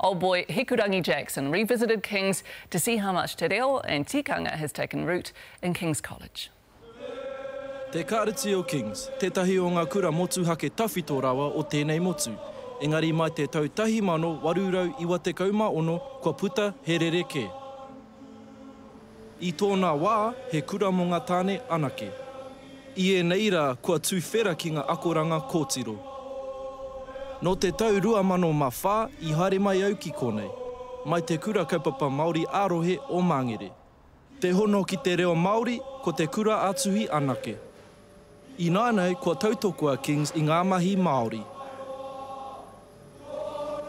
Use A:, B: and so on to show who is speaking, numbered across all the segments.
A: Old boy Hikurangi Jackson revisited Kings to see how much te reo and tikanga has taken root in Kings College.
B: Te Kāreti o Kings, tētahi o ngā kura motuhake tawhito rawa o tēnei motu. Engari mai te tau 1896 kua puta he rerekē. I tōna wā, he kura mō ngā tāne anake. I ēnei rā, kua tuwhera ki ngā akoranga kōtiro. Nō te tau 2004 i haere mai au ki kōnei, mai te Kura Kaupapa Māori ā-Rohe o Māngere. Te hono ki te reo Māori, ko te kura-ā-tuhi anake. Ināianei kua tautoko a Kings i ngā mahi Māori.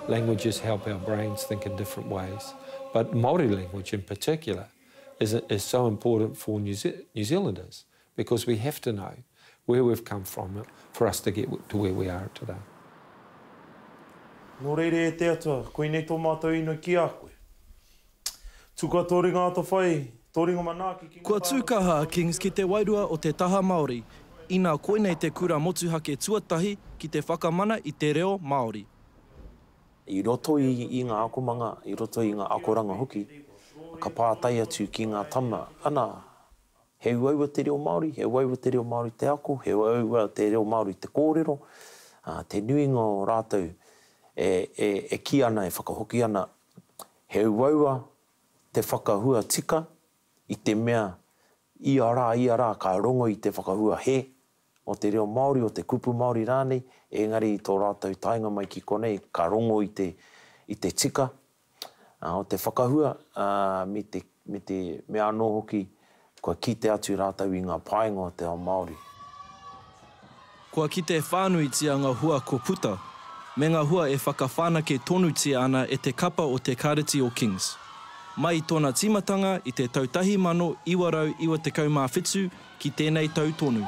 C: Languages help our brains think in different ways, but Māori language in particular is is so important for New New Zealanders because we have to know where we've come from for us to get to where we are today.
D: Nō reira e te Atua, koinei tō mātou inoi ki a koe. Tuka tō ringa atawhai, tō ringa manaaki ki ngā Kua tāngata tū kaha a Kings
B: ki te wairua o te taha Māori, inā koinei te kura motuhake tuatahi ki te whakamana i te reo Māori.
D: I roto i ngā akomanga, i roto i ngā akoranga hoki, ka pātai atu ki ngā tama, ana, he uaua te reo Māori, he uaua te reo Māori te ako, he uaua te reo Māori te kōrero, ā, te nuinga o rātou e kī ana, e whakahoki ana, He uaua te whakahua tika i te mea ia rā, ia rā ka rongo i te whakahua he o te reo Māori, o te kupu Māori rānei, engari i tō rātou taenga mai ki konei ka rongo i te tika o te whakahua me te. me te mea anō hoki, kua kite atu rātou i ngā painga o te ao Māori.
B: Kua kite whānuitia ngā hua kua puta, me ngā hua e whakawhanake tonutia ana e te kapa o te Kāreti o Kings. Mai i tōna tīmatanga i te tau 1997 ki tēnei tau tonu,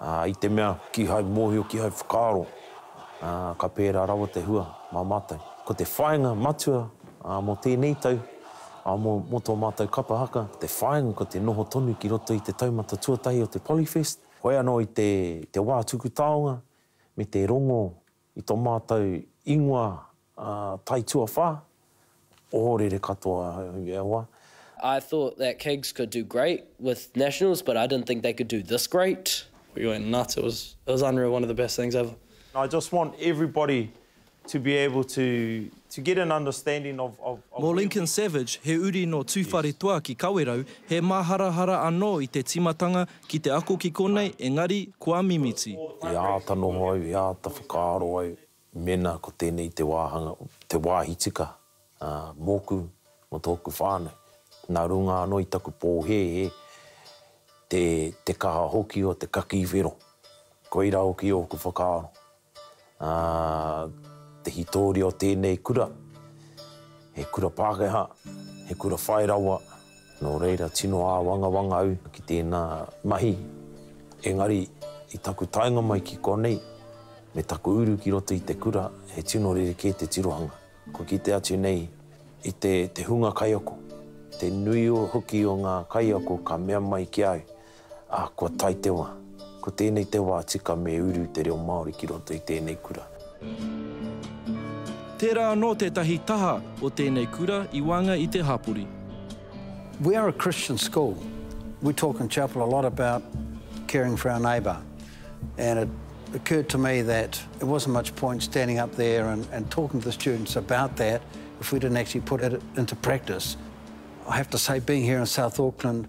D: ā, i te mea kīhai mōhio, kīhai whakaaro, ā, ka pērā rawa te hua mā mātou. Ko te whāinga matua, ā, mō tēnei tau, ā, mō, mō tō mātou kapa haka, te whāinga ko te noho tonu ki roto i te taumata tuatahi o te Polyfest, hoi anō i te, te wā tuku taonga me te rongo I tō mātou ingoa tai tuawhā, ohorere katoa ahau e Allah. I thought
E: that Kings could do great with Nationals but I didn't think they could do this great. We went nuts, it
F: was it was unreal, one of the best things ever. I just want
D: everybody to be able to to get an understanding of of of. Mō Lincoln
B: Savage, he uri nō Tūwharetoa ki Kawerau, he māharahara anō i te tīmatanga Ki te ako ki konei, engari, kua mimiti. E āta noho
D: au, e āta whakaaro au, mēnā ko tēnei te wāhanga, te wāhi tika, ā, mōku, mō tōku whānau. Nā runga anō i taku pōhēhē, te, te kaha hoki o te kakī whero. Koirā hoki ōku whakaaro. Ā, te hitoria o tēnei kura, he kura Pākehā, he kura whai rawa, nō reira tino āwangawanga au ki tēnā mahi. Engari, i taku taenga mai ki konei, me taku uru ki roto i te kura, he tino rerekē te tirohanga. Kua kite atu nei i te hunga kaiako, te nui hoki o ngā kaiako ka mea mai ki au, Ā, kua tae te wā. Ko tēnei te wā tika me uru te reo Māori ki roto i tēnei kura.
B: Tērā anō tētahi taha o tēnei kura i waenga i te hapori. We
G: are a Christian school. We talk in chapel a lot about caring for our neighbour and it occurred to me that it wasn't much point standing up there and and talking to the students about that if we didn't actually put it into practice. I have to say being here in South Auckland,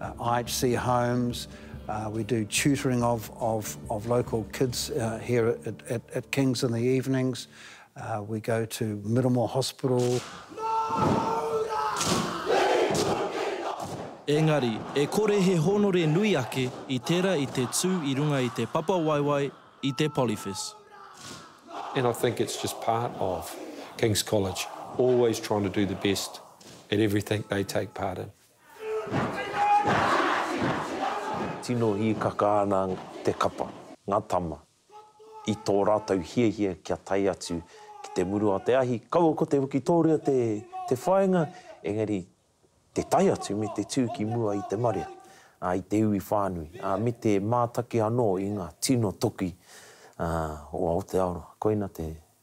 G: IHC Homes, we do tutoring of of of local kids here at at at Kings in the evenings, we go to Miramore Hospital.
B: Engari, e kore he hōnore nui ake i tērā i te tū i runga i te papawaewae i te Polyfis.
C: And I think it's just part of King's College, always trying to do the best at everything they take part in.
D: Tino hīkaka ana te kapa. Ngā tama, i tō rātou hiahia kia tae atu ki te muru a te ahi, kaua ko te wikitōria te whāinga, engari te tae atu me te tū ki mua i te marea, ā, i te iwi whānui, ā, me te mātaki anō i ngā tino toki o Aotearoa. Koina te